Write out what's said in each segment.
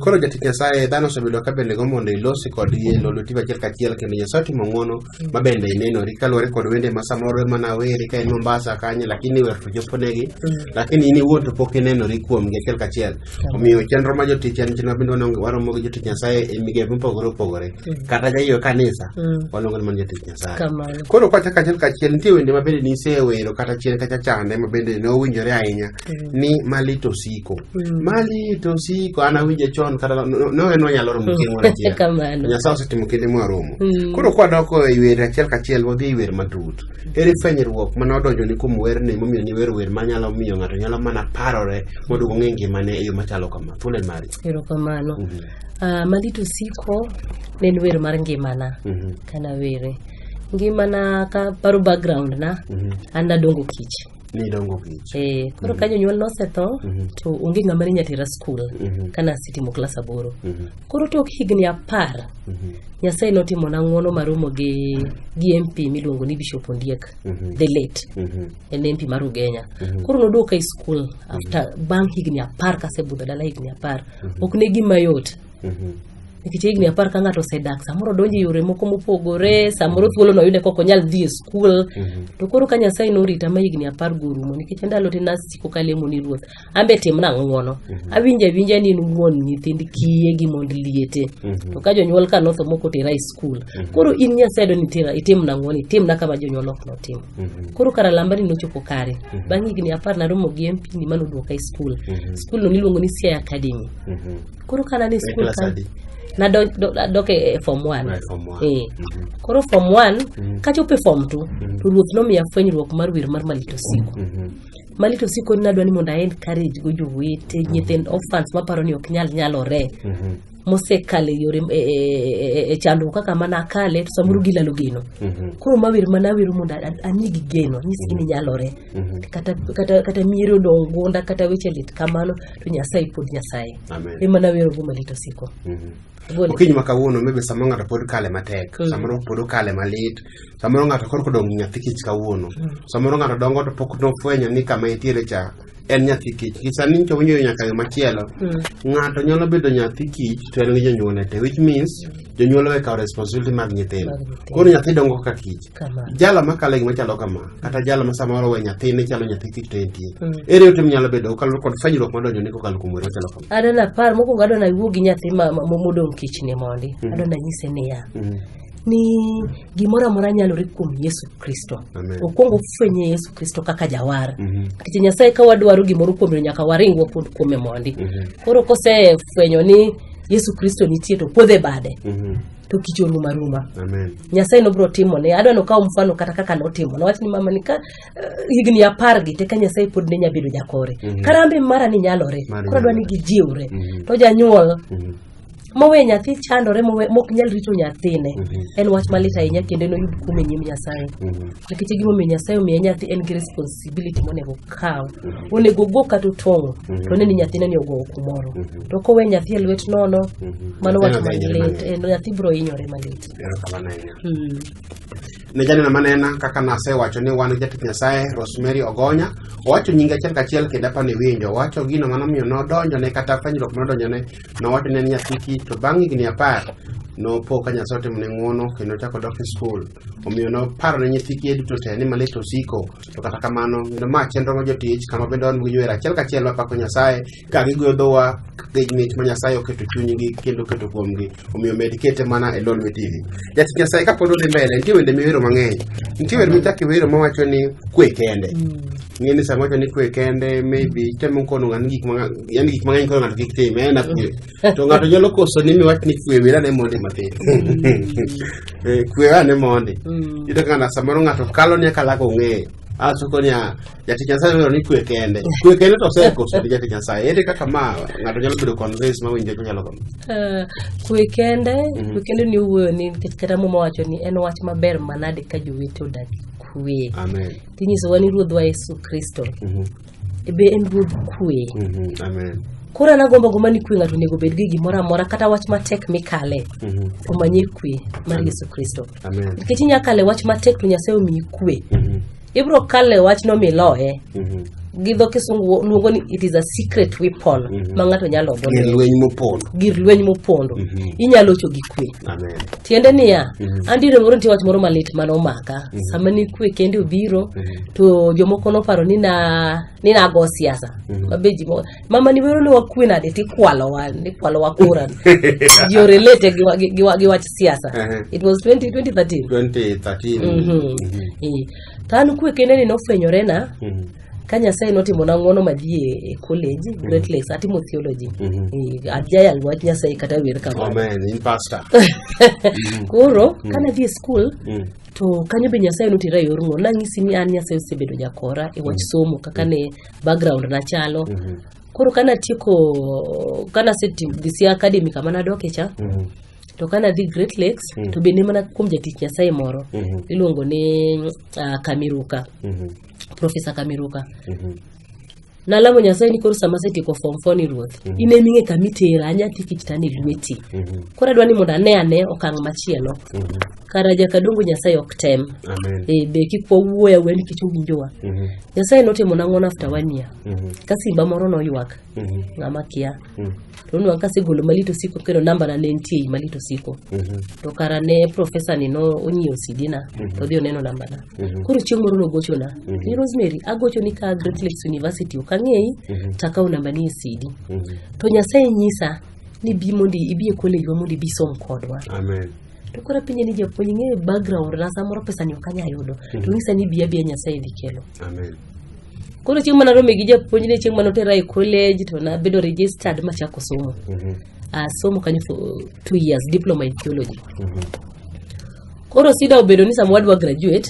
Koro jatich Nyasaye dhano osebedo ka bende gombo mondo ilosi kodgi e lolo tiba achiel kachiel kendo Nyasaye otimo ng'wono ma bende inenori kaluwore kod wende ma samoro ema naweri ka en Mombasa kanyo lakini wer to choponegi lakini in iwuon to pok inenori kuomgi achiel kachiel omiyo chenro ma jotich en chenro mabende wanong- waromo gi jotich Nyasaye e migepe mopogore opogore kata jaiyo kanisa Mm. waluongo ni mana jatich Nyasaye Kamano. koro kwachako achiel kachiel nitie wende ma bende nisewero kata chien kacha chande ma bende ne owinjore ahinya ni malit osiko Mm. malit osiko an awinje chon kata no- no- no en onyalo romo chieng' moro achiel Kamano. nyasaye osetimo kinde mwaromo Mm. koro kwadoko e wer achiel kachiel wadhi e wer matut ere fwenyruok mane odonjo ni kuom werni momiyo ni wer wer manyalo miyo ng'ato nyalo mana parore mondo ong'e ngimane e yo machalo kama thuolo en mari erokamano Mhm, Ah, malit osiko ne en wer mar ngimana mhm, kanawere ngimana ka paro background na mhm. an nadongo kich nidongo kech Eh, koro ka jonyuol nosetho to onge ng'ama ne nyatera skul kane asetimo klas aboro koro tok higni apar nyasaye notimona ng'wono maromo gi gi mp miluongo ni bishop ondiek the late en mp mar ugenya koro noduoka e skul after bang' higni apar kasebudho dala higni apar ok ne gima yot nikech higni apar ka ng'ato osedak samoro odonjo e yore moko mopogore samoro thuolo noyude kok onyal dhi e skul to koro ka nyasaye norita ma higni apar go orumo nikech ndalo te nasiko kalemo ni ruoth an be timna ng'wono awinjo awinja ni in wuon nyithind kiye gi mond liete to ka jonyuol ka notho moko tera e skul koro in nyasaye do nitira itimna ng'wono itimna kama jonyuol ok notimo koro kara lamba ni nochopo kare bang' higni apar naromo gi mpini manoduoka e skul skul no niluongo ni siaya academy koro kana ni skul ka nadok e, e form one e. mhm. koro form one mhm. kachopo e form two mhm. to ruoth nomiya fwenyruok mar wer mar malito siko malito siko ni nadwa ni mondo a encourage go jowete nyithind orphans maparo ni ok nyal nyalore mosekale yore e, e, e, e chandruok kaka mana akale to samoro mm. gilalo geno mm-hmm. koro mawer mana awero mondo anigi geno anyisgi ni mm. nyalore Mhm. kata, kata, kata mieri odong' gunda kata weche lit kamano to nyasaye pod nyasaye Amen. emana werogo malit osiko Mhm. Gole. okinyi ma kawuono maybe samoro ng'ato pod kale matek Mm. samoro pod okale malit samoro ng'ato korko dong' gi nyathi kich kawuono samoro ng'ato dongo to pok nofwenyo ni kama entiere cha en nyathi kich Gi sani ncho winjo nyaka yo machielo Mm. ng'ato nyalo bedo nyathi kich to en gi jonyuolne te which means jonyuol owekawo responsibility mag nyithindo Mag nyithindo. koro nyathi dongo ka kich jalo makalo gima chalo kama kata jalo ma samoro we nyathine chalo nyathi kik to entie mm. ere ote minyalo bedo kokalo kod fanyruok madonjo ni kokalo kuom were chalo kama adwa napar mokwongo adwa nawuo gi nyathi modong' kichni mondi mm. adwa nanyise niya mm. ni gimoro amora nyalore kuom yesu kristo okwongo fwenye yesu kristo kaka jawar mm-hmm. nikech nyasaye ka wadwaro gimoro kuome nyaka waring wapod kuome mondi mm-hmm. koro kosefwenyo ni yesu kristo nitie to puodhe bade mm-hmm. to kicho ruma ruma Amen. nyasaye nobiro timone adwa nokaw mfano kata kaka notimo nowach ni mama ni ka eh, higni apar gi te ka nyasaye pod ne nyabedo jakore Mhm. karambe mara ni nyalore Mara koro adwa ni nyalore. gijiwre Mhm. to janyuol Mhm. mowe nyathi chandore mowe- mok nyal rito nyathine Mhm. en wach malit ahinya kendo noyud kum e nyim nyasaye Mhm. nikech gimomiyo nyasaye omiye nyathi en gi responsibility monego okaw Mhm. onego ogo kata otong'o Mhm. to ne ni nyathine ni ogowo kumoro Mhm. to kowe nyathi e lwet nono mano wach Neno hinyore malit mang'eny. en nyathi biro hinyore malit Erokamano ahinya. Mm. ne janeno manena kaka nasewacho ni wan jatich nyasaye rosemary ogonya owacho nyinge achiel kachiel kendo apa ni winjo owacho gino manomiyo nodonjone kata fwenyruok manodonjone nowacho ne en nyathi kich to bang' higni apar nopo ka nyasaye otimone ng'wono kendo ochako dok e skul omiyo noparo ne nyithi kiye duto te ni malit osiko to kata kamano kendo ma chenro ma jotich kama bende wan gi wer achiel kachiel mapako nyasaye ka gigwedhowa gi mich ma Nyasaye oketo chunygi kendo oketo kuomgi omiyo med kete mana e Lol Me TV. Jatich Nyasaye ka pod odhi mbele nitie wende miwero mang'eny. Nitie wer michako iwero mawacho ni kwe kende. Ng'e ni sama wacho ni kwe kende maybe temo kono ng'ani gik mang'eny yani gik mang'eny kono ng'ato kik tim en akwe. To ng'ato nyalo koso ni miwach ni kwe wera ne mondi matin. Eh, Kwe ane mondi. Yudo ka ng'ato samoro ng'ato kalo ni akalaka ong'eyo. Asoko ni a jati nyasaye dwaro ni kwe kende kwe kende to osekoso ni jati nyasaye ere kaka ma ng'ato nyalo bedo convince ma winjo chalo kama Ah, kwe kende Mhm. kwe kende ni wuoyo ni nikech kata muma wacho ni en wach maber manade ka jowete odak kwe amen tinyisowa ni ruodhwa yesu kristo Mhm, be en ruodh kwe mhm, amen koro an agombo gomba ni kwe ng'ato onego obed gi gimoro amora kata wach matek mikale Mhm, omanye kwe mar yesu kristo amen nikech inyalo kale wach matek to nyasaye omiyi kwe Mhm, ibro kale wachno miloye mm -hmm. gi dho kisungu luongo ni it is a secret weapon mm -hmm. ma ng'ato nyalo gir lweny mopondo gir lweny mopondo mm -hmm. inyalo cho gi kwe amen tiende niya mm -hmm. andi ne moro nitie wach moro malit mane omaka mm -hmm. sama ni kwe kende obiro mm -hmm. to jomoko noparo ni na ni nago siasa mm -hmm. mabe ji mama ni wero ni wakwe nade tikwalowa nikwalowa kura you're related gi, wa- gi, gi, wa- gi wach siasa Ehe. it was 20, 2013 2013 Mhm. Eh, to an kwe kende ni nofwenyorena Mhm. ka nyasaye notimona ng'wono madhi e- e college great lakes atimo theology Mhm. Eh, ajayal wach nyasaye kata wer kamano amen in pastor koro kane adhi e skul Mm. to kanyo be nyasaye notera e yor ng'wono nang'isi ni an nyasaye osebedo jakora e wach somo kaka ne background na chalo koro kana tieko kana asedhi sia academy kama nadok e cha to kana dhi great lakes to bende mana kuom jatich nyasaye moro iluongo ni ah, kamiruka profesa kamiruka nalamo nyasaye ni koro sama asetieko form four ni ruoth in ema ing'e kama itera anyathi kichitane lweti koro adwa ni mondo ane ane okang' machielo kara jakadongo nyasaye ok tem Amen. e, be kik wawuoya wuoya nikech owinjowa Mhm. nyasaye notimo nang'o after one year Mhm. ka simba moro noywak Mhm. ng'ama kia Mhm. to nwa kasegolo malit osiko kendo nambana ne nitie ei malit osiko Mhm. to kara ne profesa ni no onyiewo sidina to dhi oneno nambana Mhm. koro chieng' moro nogochona Mhm. ni rosemary agochoni ka great lakes university ok ang'eyi Mhm. to akawo nambani e sidi Mhm. to nyasaye nyisa ni bi mondo ibi e kolejwa mondo ibi som kodwa Amen. to koro penje ni japuonj ing'eyo background na samoro pesa ni ok anyal yudo to mhm. nyisa ni biya biya nyasaye dhi kelo amen koro chieng' mana rome gi japuonj ni chieng' mana otera e college to nabedo registered machako somo mhm. asomo kanyo for two years diploma in theology mhm. koro sida obedo ni sama wadwa graduate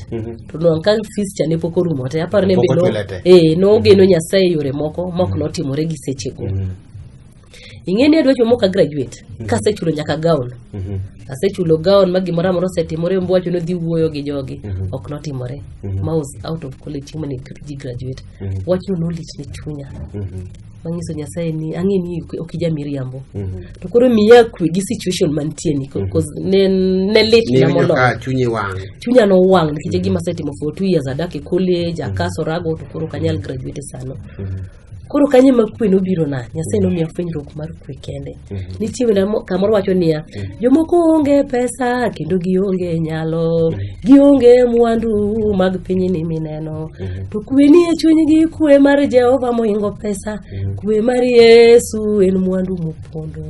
to nwang' ka fees cha ne pok orumo te aparo ni e eh, nogeno nyasaye yore moko mok notimore gi sechego ing'e ni adwa chomo ka graduate kasechulo nyaka gown asechulo gown ma gimoro amora osetimore mbo wacho nodhi wuoyo gi jogi ok notimore ma was out of college chieng' mane ji graduate wachno nolit ne chunya manyiso nyasaye ni ang'e ni ok- ok ija miriambo to koro miya kwe gi situation mantie ni ko- cause ne ne lit na niwinjo moloyo ka chunyi wang' chunya nowang' nikech e gima asetimo for two years adak e college akaso rago to koro ok anyal graduate sano koro kanye ma kwe nobiro na nyasaye mm. nomiya fwenyruok mar kwe kende mm-hmm. nitie wenda kamoro wacho niya mm. jomoko onge pesa kendo gionge nyalo mm. gionge mwandu mag piny ni mineno mm-hmm. to kwe ni e chunygi kwe mar jehova moingo pesa kwe mar yesu en mwandu mopondo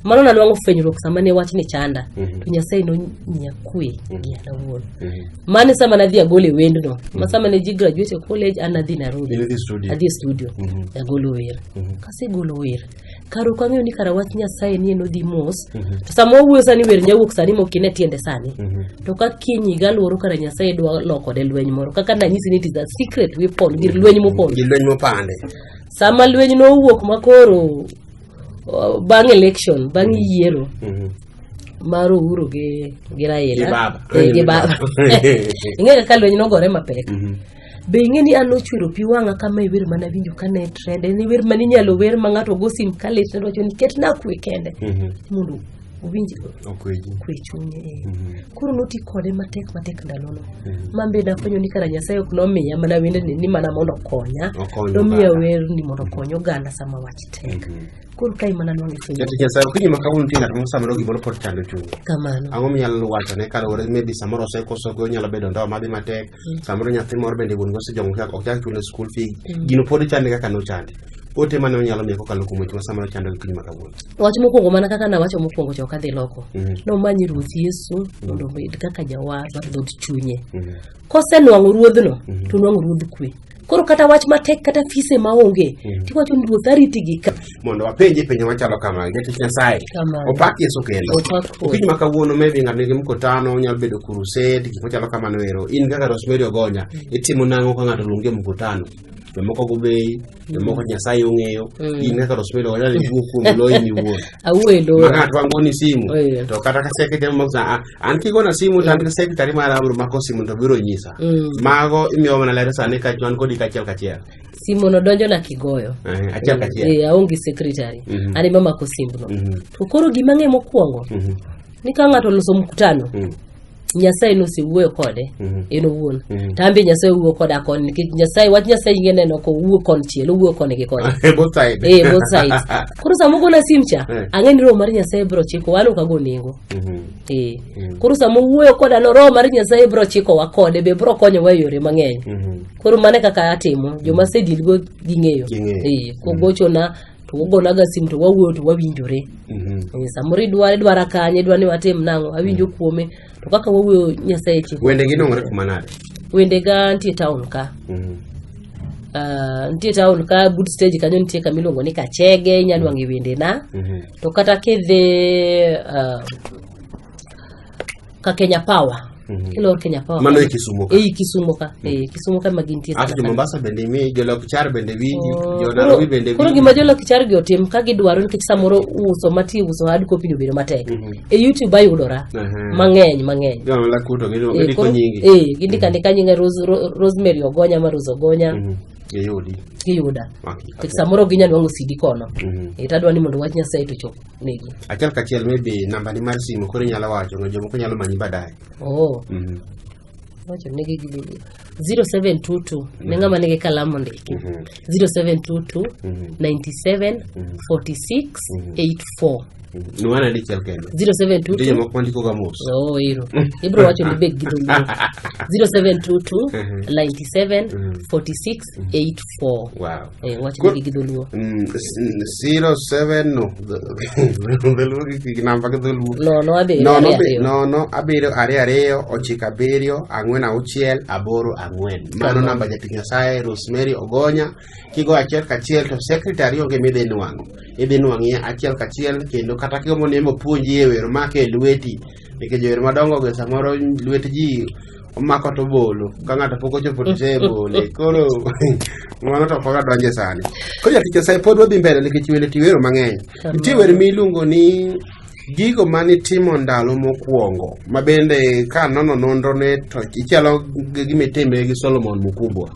mano nanwang'o fwenyruok sama ne wachni chanda Mhm. to nyasaye nomiya kwe gi an awuon Mhm. mane sama nadhi agolo e wendno ma sama ne ji graduate e college an nadhi Nairobi Idhi dhi studio. adhi e studio Mhm. agolo wer Mhm. kasegolo wer kar ok ang'eyo ni kara wach nyasaye ni en odhi mos Mhm. to sama wawuoyo sani wer nyawuok sani mokine tiende sani Mhm. to ka kiny higa luoro kara nyasaye dwa lokode lweny moro kaka nanyisi ni it is a secret weapon gir lweny mopon Gi lweny mopande. sama lweny nowuok makoro O, bang' election bang' yiero Mhm. mar Uhuru gi gi Raila Gi baba. Eh, gi baba ing'e kaka lweny nogore mapek Mhm. be ing'e ni an nochwero pi wang'a kama e wer mana winjo ka ne trend en wer mane inyalo wer ma ng'ato go sim ka lit ne wacho ni ketna kwe kende Mhm. mondo owinji Okweji. kwe chunye eh. Mhm. koro noti kode matek matek ndalono Mhm. ma be nafwenyo ni kara nyasaye ok nomiya mana wendeni ni mana mondo okonya Okonyo nomiya oganda. werni mondo okony oganda sama wach tek Mhm. koro kae mana nwang'o ifwenyo Jatich Nyasaye okinyi ma kawuono nitie ng'at moro samoro gimoro pod chando chunye. kamano Ang'o minyalo wachone kaluwore maybe samoro osekoso gi onyalo bedo ndoa madhi matek mm. samoro nyathi moro bende wuon go sejong chak ok chak chule school fee mm. gino pod chande kaka no chande ote mane onyalo miyo kokalo kuom weche ma samoro chando gi piny ma kawuono wach mokwongo mana kaka nawacho mokwongo cha ok adhi loko mm. nomanyi ruoth yesu mm. mondo obed kaka jawar mar dhod chunye mm. kosenwang'o ruodhno mm. to nwang'o ruodh kwe koro kata wach matek kata fise maonge mm. tiwacho ni ruoth ariti gi ka mondo wapenje penjo machalo kama jatich nyasaye opak yesu kendo okinyi ma kawuono maybe ng'ato nigi mkutano onyalo bedo kurused gik machalo kamano ero in kaka rosemary ogonya mm. itimo nang'o ka ng'ato luongi e mkutano jomoko gobei jomoko nyasaye ong'eyo mm. in kaka rosemary ogonya ni wuo kuom loyi miwuon awuelo ma ng'ato wang'oni simu oh, to kata kaseke jamo an kigona simu to an gi secretary mara abiro mako simu to biro nyisa Mm. mago imiyo mana ler sani ka wan kodi kachiel kachiel simu no donjo na kigoyo Eh, achiel kachiel Eh, aonge secretary Mhm. an ema mako simbno Mhm. to koro gima ng'e mokwongo Mhm. ni ka ng'ato oloso mkutano Mm. nyasaye nosewuoyo kode Mhm. en owuon Mhm. to an be nyasaye owuoyo koda koni nikech nyasaye wach nyasaye inge neno ko owuo konchiel owuoyo koni gi koni both side eh both sides koro sama ogona sim cha Eh. ang'e ni roho mar nyasaye biro chiko wan ok ago nengo Mhm. Eh. Mm. Koro sama wuoyo koda no roho mar Nyasaye bro chikowa kode be bro konyowa e yore mang'eny. Mhm. Koro mane kaka atimo joma asedil go ging'eyo. Ging'eyo. Eh, kogochona to wogonaga sim to wawuoyo to wawinjore. Mhm. Eh, Samoro idware dwara kanye dwa ni watim nang'o awinjo kuome to kaka wawuoyo Nyasaye chiko. Wende gi nong'ore kuma nade? Wendega nitie town ka. Mhm. Ah, nitie town ka good stage kanyo nitie kama iluongo ni Kachege inyalo wang'e wendena. Mhm. To kata kidhi uh, ka Kenya Power Mhm. ilor Kenya Power Mano e Kisumo ka. ei Kisumo ka eh, Kisumo ka ema gintie Ato sana jo sana. Mombasa bende imi, jo Lokichar bende winji, Oh, jo koro- Nairobi bende koro winji. gima jolokchar gi otim ka gidwaro nikech samoro uso mati uso hard copy ni obedo matek Mhm. e youtube ayudora Aha. mang'eny mang'eny Jo Malakuto Eh, gidiko koro- nyingi. eh, gindika ndika nyinga Rose- Ro- rosemary ogonya ma rose ogonya Mhm. Giyudi. giyuda Okay. Nikech samoro ginya nwang'o sidi kono Mhm. e tadwa ni mondo wach nyasaye to chop negi Achiel kachiel maybe nambani mar simu koro inyalo wacho no jomoko nyalo manyi baadaye. oh Mhm. wacho negi gi 0722 ne ng'ama nigi kalamu ndiki Mhm. 0722 Mhm. 97 46 84 Ni wana dichiel kende. 0722 Nitie jomoko mandiko ga mos. Oh, ero. Ibro wacho ni beg gi dholuo. 0722 Mhm. 97 Mhm. 46 84. Wow. Eh, wacho Good. ni gi dholuo. Mm, s- n- zero seven no dholuo gi- gi namba gi dholuo No, no abe. no no abe- be- no no abiriyo ariyo ariyo ochiko abiriyo ang'wen auchiel aboro ang'wen mano Kamano. namba jatich nyasaye rosemary ogonya kigo achiel kachiel to secretary onge midhi nwang'o idhi nwang'ie achiel kachiel kendo kata kigombo ni mopuonji e wer make e lweti nikech jower madongo ge samoro lwet ji omako to bolo ka ng'ato pok ochopo to se bole koro mano to ok wadonje sani koro jatich nyasaye pod wadhi mbele nikech wende tiwero mang'eny Nitie wer miluongo ni gigo ma nitimo ndalo mokwongo ma bende ka nono nonrone to ichalo gi gima itime gi Solomon Mukumbwa.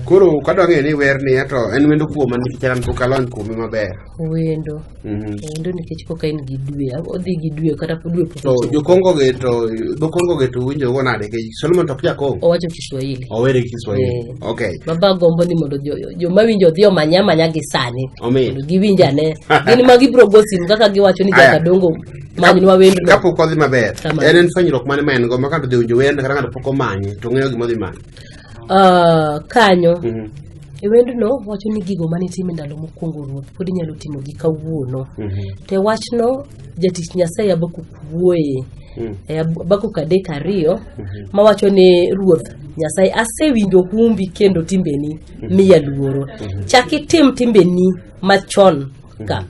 Koro kadwa ng'eyo ni wer ni to en wendo kuoma nikech an pok alony kuome maber. wendo Mhm. wendo nikech koka in gi dwe odhi gi dwe kata po dwe pok To ochopo. jokongo ge to jokongo ge to winjo go nade nikech Solomon to ok jakongo. owacho kiswahili Owere gi Kiswahili. Eh. Okay. baba gombo ni mondo jo- joma winjo odhi omanya amanya gi sani Omi. mondo giwinj ane gin ma gibiro go simu kaka giwacho ni Aya. jakadongo manyinwa wendno kapok odhi maber Kamano. en en fwenyruok mane ma en go ma kata odhi winjo wend kata ng'ato pok omanye to ng'eyo gima odhi manye Ah, kanyo Mhm. e wendno wacho ni gigo mane itimo e ndalo mokwongo ruoth pod inyalo timogi kawuono Mhm. te wachno jatich nyasaye abakuk wuoye Mm. e Habakuk adek ariyo mawacho ni ruoth nyasaye asewinjo humbi kendo timbeni miya luoro chak itim timbeni machon ka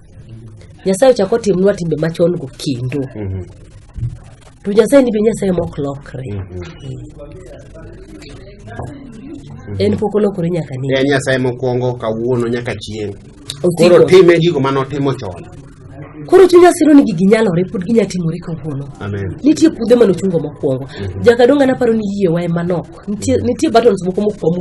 nyasaye ochak otimnwa timbe machon go kendo Mhm. to nyasaye ni be nyasaye mok lokre en pok olokore nyaka ni En Nyasaye mokwongo kawuono nyaka chieng'. Osiko. Koro time gigo mane otimo chon. Koro chuny asiro ni gigi nyalore pod ginya timore kawuono. Amen. Nitie pudhe manochungo mokwongo. Jakadonga naparo ni yiewa ema nok. Nitie nitie buttons moko mokwongo